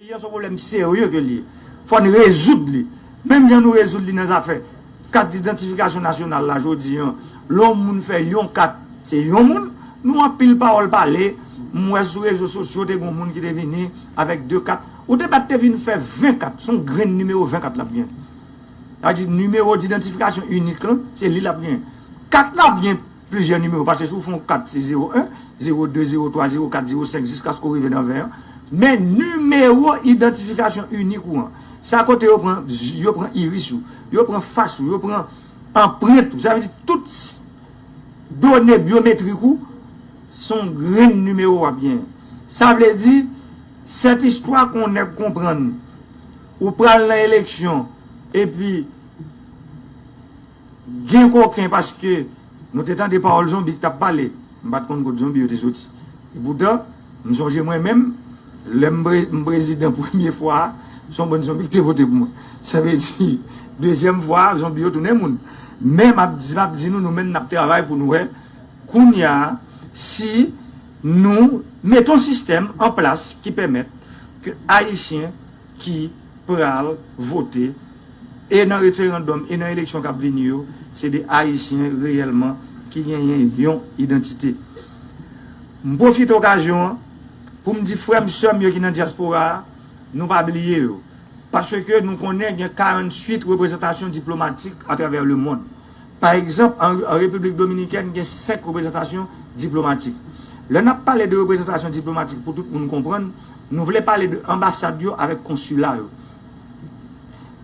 Peyi an son pwoblèm serye ke li ye. Fò n rezoud li. Menm jan nou rezoud li nan zafè kat idantifikasyon nasyonal la jodi an. Lè yon moun fè yon kat, se yon moun. Nou anpil pawòl pale. M wè sou rezo sosyo te gen yon moun ki te vini avèk 2 kat. Ou te bat te vin fè 20 kat. Son grenn nimewo 20 kat l ap gen. Sa vle di nimewo didantifikasyon inik lan, se li l ap genyen. Kat la ap gen plizyè nimewo, paske si w fè yon kat se zewo 1, zewo 2, zewo 3, zewo 4, zewo 5 jiskaske w rive nan 20 an. Men nimewo idantifikasyon inik ou an, sa kote yo pran zy, yo pran iris ou, yo pran fas ou, yo pran anprent ou, sa vle di tout done byometrik ou, se yon grenn nimewo w ap genyen. Sa vle di, sèt istwa ke yon nèg konprann. Ou pral nan eleksyon epi gen koken paske nou te tande pawòl zonbi ki t ap pale, m pa t konn kot zonbi yo te soti. Epoutan, m sonje mwen menm, lè m prezidan premye fwa a, se yon bann zonbi ki te vote pou mwen. Sa vle di, dezyèm fwa a, zonbi yo tounen moun. Men, m ap di nou, nou menm n ap travay pou nou wè kounye a si nou mete yon sistèm anplas ki pèmèt ke Ayisyen ki pral vote e nan referandòm e nan eleksyon k ap vini yo, se de Ayisyen reyèlman ki genyen yon idantite. M pwofite okazyon an pou m di frè m, sè m yo ki nan dyaspora a, nou pa bliye yo. Paske nou konnen gen 48 reprezantasyon diplomatik atravè lemond. Pa egzanp, an Repiblik Dominikèn gen 5 reprezantasyon diplomatik. Lè n ap pale de reprezantasyon diplomatik pou tout moun konprann, nou vle pale de anbasad yo avèk konsila yo.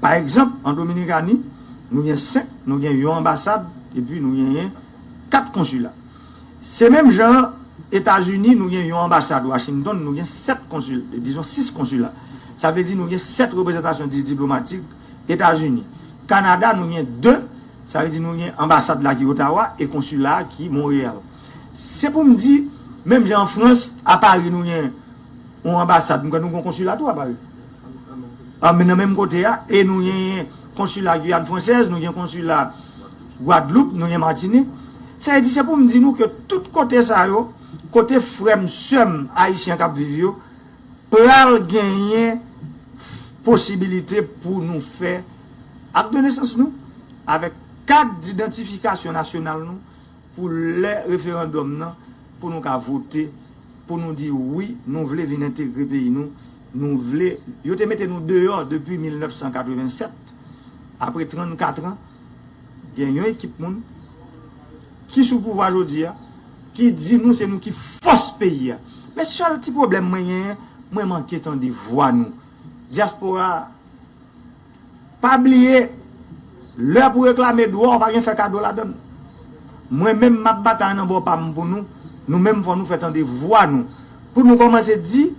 Pa egzanp, an Dominikani, nou gen 5, nou gen yon anbasad epi nou genyen 4 konsila. Se menm jan an Etazini, nou gen yon anbasad Washington, nou gen 7 konsil, dizon 6 konsila. Sa vle di nou gen 7 reprezantasyon diplomatik. Etazini. Kanada nou gen 2, sa vle di nou gen anbasad la ki Ottawa e konsila a ki Montreal. Se pou m di, menm jan an Frans, a Paris nou gen yon anbasad, m kwè nou gen yon konsila tou a Paris. Nan menm kote a, e nou genyen konsila Guyane Française, nou gen konsila Guadeloupe, nou gen Martinique. Sa vle di, se pou m di nou ke tout kote sa yo, kote frè m, sè m ayisyen k ap viv yo, Pral genyen posibilite pou nou fè Akt de Nesans nou avèk Kat Didantifikasyon Nasyonal nou pou lè referandòm nan pou nou ka vote pou nou di wi nou vle vin entegre peyi nou, nou vle yo te mete nou deyò depi 1987 apre 34 an gen yon ekip moun ki sou pouvwa jodi a. Ki di nou se nou ki fòs peyi a. Men sèl ti pwoblèm mwen genyen, mwen manke tande vwa nou. Dyaspora a, pa bliye, lè pou reklame dwa w pa gen fè kado ladan l. Mwen menm m ap batay nan bò pa m pou nou, nou menm fò nou fè tande vwa nou. Pou nou kòmanse di,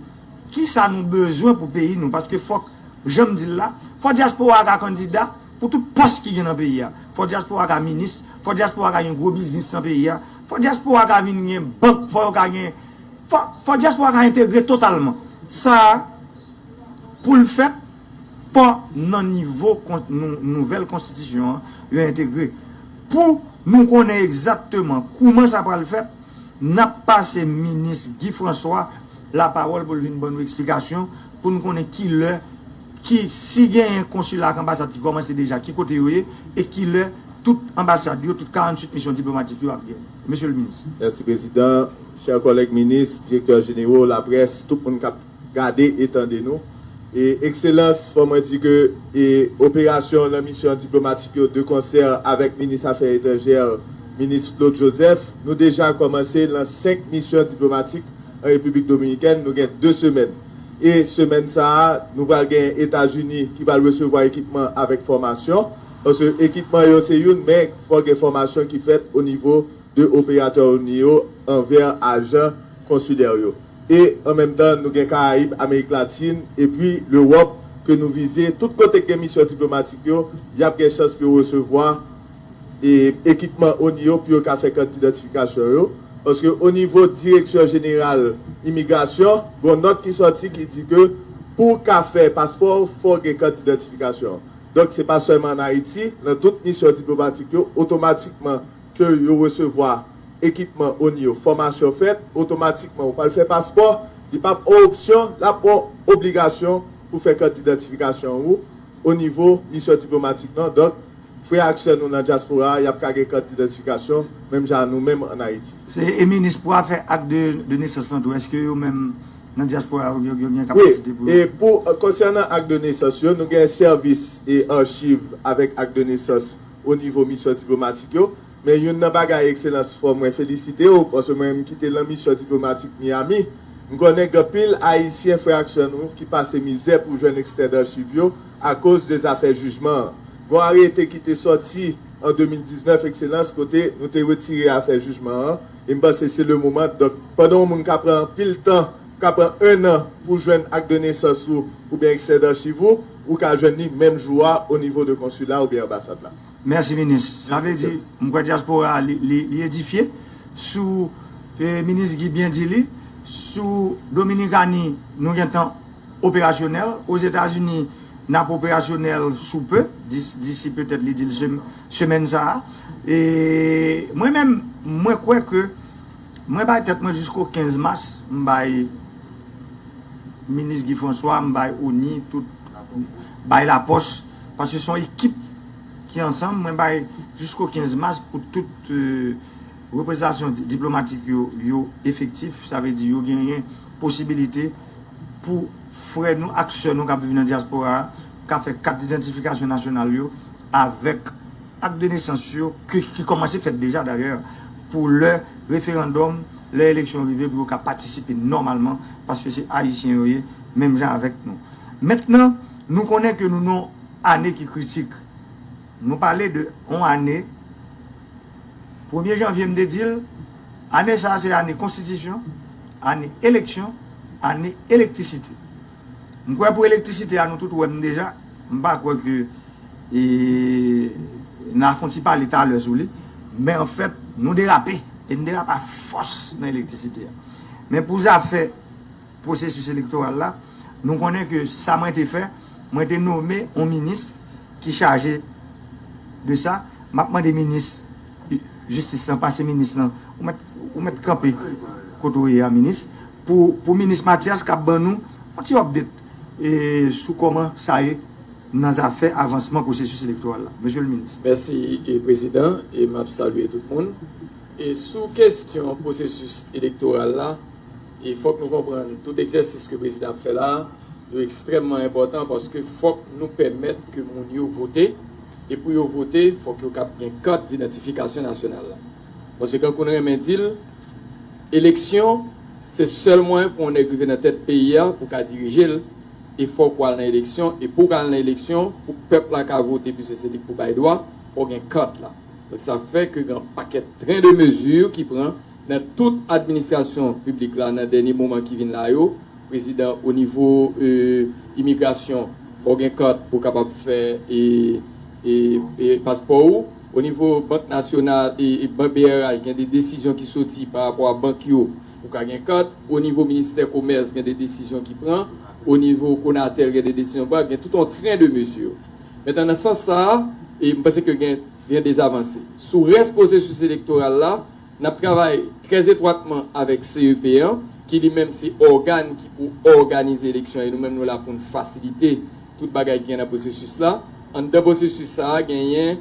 ki sa nou bezwen pou peyi nou. Paske fòk, jan m di l la, fò dyaspora a ka kandida pou tout pòs ki gen nan peyi a. Fò dyaspora a ka minis, Fò dyaspora ka gen gwo biznis nan peyi a, fò dyaspora ka vin gen bank, fò yo ka gen, fò dyaspora ka entegre totalman. Sa a, pou l fèt, fò nan nivo nouvèl konstitisyon an, yo entegre. Pou nou konnen egzatteman kouman sa pral fèt, n ap pase minis Guy François lapawòl pou l vin ban nou eksplikasyon, pou n konnen ki lè Ki, si genyen konsila ak anbasad ki kòmanse deja, ki kote yo ye, e ki lè tout anbasad yo, tout 48 misyon diplomatik yo ap gen? Mesye le Minis. Mèsi Prezidan. Chè kòlèg Minis, Direktè Jenero, Laprès, tout moun k ap gade e tande nou. Ekselans, fò mwen di ke operasyon nan misyon diplomatik yo de konsè avèk Minis Afè Etranjè, Minis Claude Joseph, nou deja kòmanse lan 5 misyon diplomatik an Repiblik Dominikèn, nou gen 2 semèn. E semèn sa a, nou pral gen Etazini ki pral resevwa ekipman avèk fòmasyon. Paske ekipman yo se youn, men fò gen fòmasyon ki fèt o nivo de operatè ONI yo anvè ajan konsilè yo. E an menm tan, nou gen Karayib, Amerik Latin, epi Lewòp ke nou vize. Tout kote k gen misyon diplomatik yo, y ap gen chans pou yo resevwa. ekipman oni yo pou yo ka fè kant idantifikasyon yo, paske onivo direksyon jeneral imigrasyon gon nòt ki sòti ki di ke pou w ka fè paspò fò w gen kant idantifikasyon an. Donk se pa sèlman an Ayiti, nan tout misyon diplomatik yo otomatikman ke yo resevwa ekipman oni yo fòmasyon fèt otomatikman ou pral fè paspò li pap on opsyon lap on obligasyon pou fè kant idantifikasyon ou onivo misyon diplomatik nan donk Frè ak sè nou nan dyaspora a, y ap ka gen kat didentifikasyon menm jan a nou menm an Ayiti. Se e minis pou afè ak de de nesans lan tou eske yo menm nan dyaspora a yo gen kapasite pou yo. Wi, e pou konsènan ak de nesans yo, nou gen sèvis e archiv avèk ak de nesans o nivo misyon diplomatik yo, Men youn nan bagay Ekselans fò mwen felisite w paske mwen m kite lan misyon diplomatik Miyami, m konnen gen anpil Ayisyen frè ak sè nou ki pase mizè pou jwenn ekstrè darchiv yo akoz de zafè jijman an. Gon arete ki te sòti an 2019 Ekselans kote nou te retire afè jijman an e m panse se le moman donk pandan yon moun ka pran anpil tan ka pran 1 nan pou jwenn ak de nesans ou oubyen ekstrè darchiv ou, ou ka jwenn li menm jou a o nivo de konsila oubyen anbasad la. Merci minis. Sa vle di m kwè diaspora a li edifye sou minis Guy byen di li sou Dominikani nou gentan operasyonèl Ozetazini n ap operasyonèl sou peu disi petèt li di l semèn sa a e mwen menm mwen kwè ke mwen bay tèt mwen jisko 15 mas m bay minis Guy François m bay ONI tout bay lapòs. Paske son ekip ki ansanm mwen bay jisko 15 mas pou tout reprezantasyon diplomatik yo yo efektif sa vle di yo genyen posibilite pou frè nou ak sè nou kap viv nan dyaspora a ka fè kat didantifikasyon nasyonal yo avèk ak de nesans yo ki kòmanse fèt deja dayè pou lè referandòm lè eleksyon rive pou yo ka patisipe nòmalman paske se ayisyen yo ye menm jan avèk nou mèt nan. Nou konnen ke nou nan ane ki kritik. Nou pale de yon ane, premye janvye m te di l, ane sa a se ane konstitisyon, ane eleksyon, ane elektrisite. M kwè pou elektrisite a nou tout wè m deja, m pa kwè ke n a fè yon ti pale talè sou li, men an fèt nou derape, e n derape a fòs nan elektrisite a. Men pou zafè pwosesis elektoral la, nou konnen ke sa mwen te fè, mwen te nome yon minis ki chaje de sa, m ap mande minis jistis lan, pase minis lan, ou mèt kanpe kote ou ye a minis, pou minis Matyas kab ban nou yon ti update sou kòman sa ye nan zafè avansman pwosesis elektoral la, mesye le minis. Mèsi prezidan e m ap salye tout moun. Sou kestyon pwosesis elektoral la. E fòk nou konprann tout egzèsis ke prezidan ap fè la a yo ekstrèmman enpòtan paske fòk nou pèmèt ke moun yo vote e pou yo vote fòk yo kab gen kat didantifikasyon nasyonal la paske kankou n renmen di l eleksyon se sèl mwayen pou yon nèg rive nan tèt peyi a pou ka dirije l e fòk ou al nan eleksyon e pou w ka al nan eleksyon pou pèp la ka vote piske se li pou bay dwa fòk gen kat la donk sa fè ke gen yon pakèt tren de mezi ki pran. Nan tout administrasyon piblik la nan dènye moman ki vin la yo, prezidan o nivo imigrasyon fò w gen kart pou w kapab fè paspò ou, o nivo bank nasyonal brh gen de desizyon ki soti pa rapò a bank yo pou w ka gen kart, o nivo ministè komès gen de desizyon ki pran, o nivo konatel gen de desizyon pran, gen tout on tren de mezi. Mentnan nan sans sa a, m panse ke gen de avanse. Sou rès pwosesis elektoral la, N ap travay trè etwatman avèk CEP an, ki li menm se ògàn ki pou òganize eleksyon an e nou menm nou la pou n fasilite tout bagay ki gen nan pwosesis la. Anndan pwosesis sa a genyen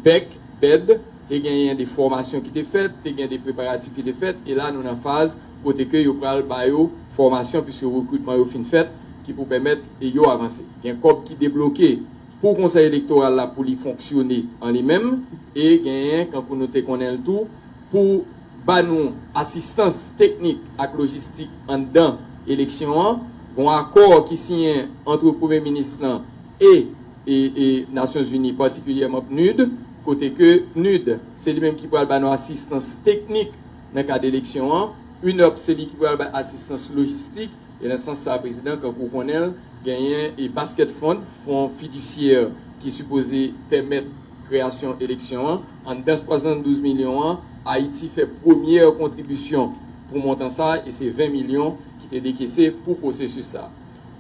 bèk, bèd, te genyen de fòmasyon ki te fèt, te gen de preparatif ki te fèt e la nou nan faz kote ke yo pral ba yo fòmasyon puiske rekritman yo fin fèt ki pou pèmèt yo avanse. Gen kòb ki debloke. Pou Konsèy Elektoral la pou li fonksyone an li menm e genyen kankou nou te konnen l tou pou ba nou asistans teknik ak lojistik anndan eleksyon an, gon akò ki siyen antre Premye Minis lan e e Nasyonzini patikilyèman PNUD kote ke PNUD se li menm ki pral ba nou asistans teknik nan kad eleksyon an, UNOPS se li ki pral bay asistans lojistik. E nan sans sa prezidan kankou w konnen l genyen e basket fund, fon fiduciaire ki sipoze pèmèt kreyasyon eleksyon an. Anndan 72 milyon an Ayiti fè premyè kontribisyon pou montan sa e se 20 milyon ki te dekese pou pwosesis sa.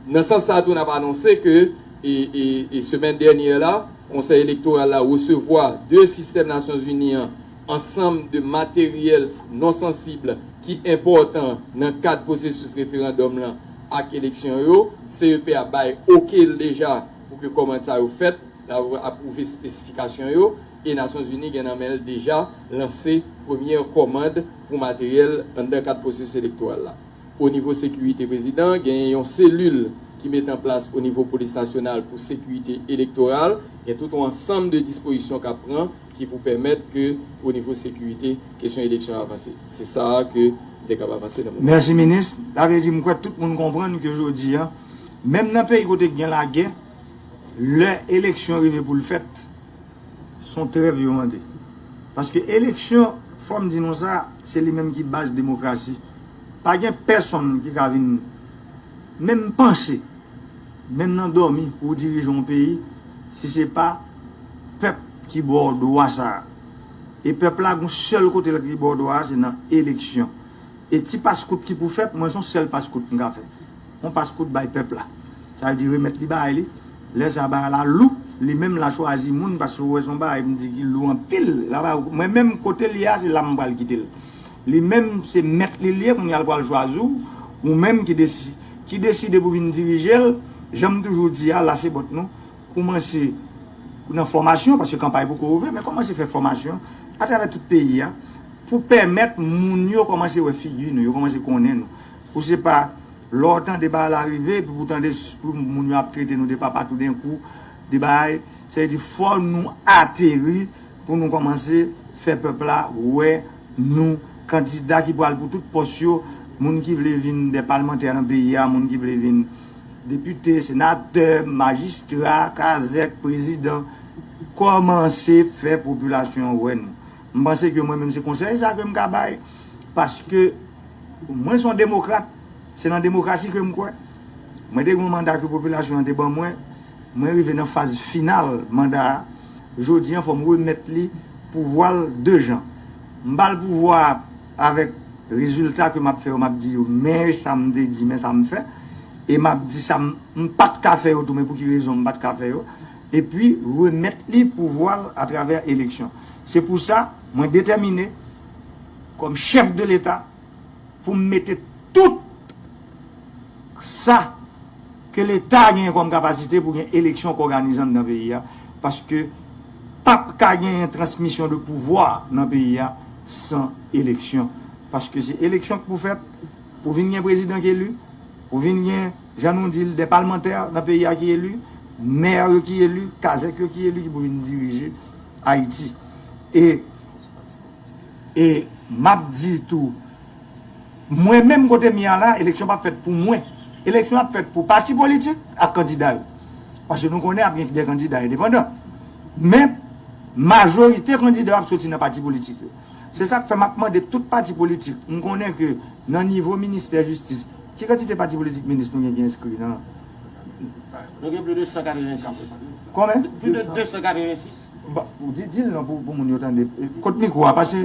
Nan sans sa tou n ap anonse ke e semèn dènyè la konsèy elektoral la resevwa de sistèm nasyonzini an ansanm de materyèls non sansib ki enpòtan nan kad pwosesis referandòm lan ak eleksyon yo, CEP a bay oke l deja pou ke kòmand sa yo fèt, la ou apwouve spesifikasyon yo, e Nasyon Zini gen nan men l deja lanse premyè kòmand pou materyèl anndan kad pwosesis elektoral la. O nivo sekirite prezidan, genyen yon selil ki mete an plas o nivo polis nasyonal pou sekirite elektoral, gen tout on ansanm de dispozisyon k ap pran, ki pou pèmèt ke o nivo sekirite kesyon eleksyon an avanse. Se sa a ke m te kab avanse nan moman sa. Mèsi minis. Sa vle di m kwè tout moun konprann ke jodi an, menm nan peyi kote ki gen lagè, lè eleksyon rive pou l fèt, s on trèv yo mande. Paske eleksyon, fò m di nou sa, se li menm ki baz demokrasi. Pa gen pèsonn ki ka vin menm panse, menm nan dòmi pou w dirije yon peyi, si se pa. Pèp ki ba w dwa sa a. E pèp la gon sèl kote li ba w dwa a se nan eleksyon. E ti pas kout ki pou fèt, mwen son sèl pas kout m ka fè. On pas kout bay pèp la. Sa vle di remèt li bagay li. Lè sa a bagay la lou, li menm la chwazi moun paske ou wè son bagay m di ki lou anpil. Mwen menm kote l ye a se la m pral kite l. Li menm se mèt li l ye kounya l pral chwazi w. Ou menm ki deside pou vin dirije l. Jan m toujou di a, lase bòt nou. Koumanse nan fòmasyon, paske kanpay poko ouvè, men kòmanse fè fòmasyon atravè tout peyi a pou pèmèt moun yo kòmanse wè figi nou, yo kòmanse konnen nou. Pou se pa lè w tande bagay la rive epi pou w tande pou moun yo ap trete nou de papa toudenkou, de bagay. Sa vle di fò nou ateri pou nou kòmanse fè pèp la wè nou. Kandida ki pral pou tout pòs yo, moun ki vle vin dè palmantè nan peyi a, moun ki vle vin. Depite, senatè, majistra, kazèk, prezidan, kòmanse fè popilasyon an wè nou. M panse ke mwen menm se konsèy sa ke m ka bay, paske mwen son demokrat, se nan demokrasi ke m kwè. Mwen te gen yon manda ke popilasyon an te ban mwen, mwen rive nan faz final manda a, jodi an fò m remèt li pouvwa l 2 jan. M ba l pouvwa a. Avèk rezilta ke m ap fè yo, m ap di yo men sa m te di, men sa m fè. E m ap di sa m pa t ka fè yo tou, men pou ki rezon m pa t ka fè yo. Epi remèt li pouvwa l atravè eleksyon. Se pou sa, mwen detèmine, kòm chèf de Leta, pou m mete tout sa. Ke leta genyen kòm kapasite pou gen eleksyon k òganizan nan peyi a, paske pap ka genyen transmisyon de pouvwa nan peyi a san eleksyon. Paske se eleksyon k pou fèt, pou vin gen prezidan k eli, pou vin gen, jan nou di l, dè palmantè nan peyi a ki eli, mè yo ki eli, kazèk yo ki eli ki pou vin dirije Ayiti. E, e, m ap di tou, Mwen menm kote m ye a la, eleksyon pap fèt pou mwen. Eleksyon ap fèt pou pati politik ak kandida yo. Paske nou konnen ap gen de kandida endepandan. Men, majorite kandida yo ap soti nan pati politik yo. Se sa k fè m ap mande tout pati politik, m konnen ke nan nivo ministè jistis, ki kantite pati politik minis nou gen ki enskri nan. Nou gen plis de 186. Konben? Plis de 286. Bon, di l non pou moun yo tande. Kot mikwo a, pase.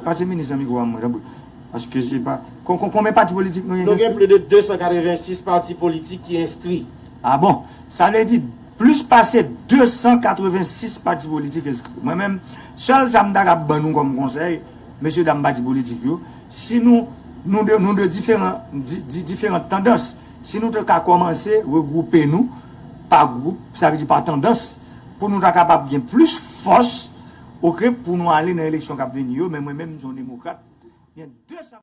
Pase minis nan mikwo a mwen tanpri paske se pa konmen pati politik nou gen ki enskri? Nou gen plis de 286 pati politik ki enskri. A bon! Sa vle di plis pase 286 pati politik enskri. Mwen menm, sèl sa m ta kab ban nou kòm konsèy, mesye dam pati politik yo, si nou, nou de, nou de diferan, di diferant tandans, si nou te ka kòmanse regwoupe nou pa gwoup, sa vle di pa tandans, pou nou ta kapab gen plis fòs. Ok pou nou ale nan eleksyon kap vini yo men mwen menm m son demokrat gen 2.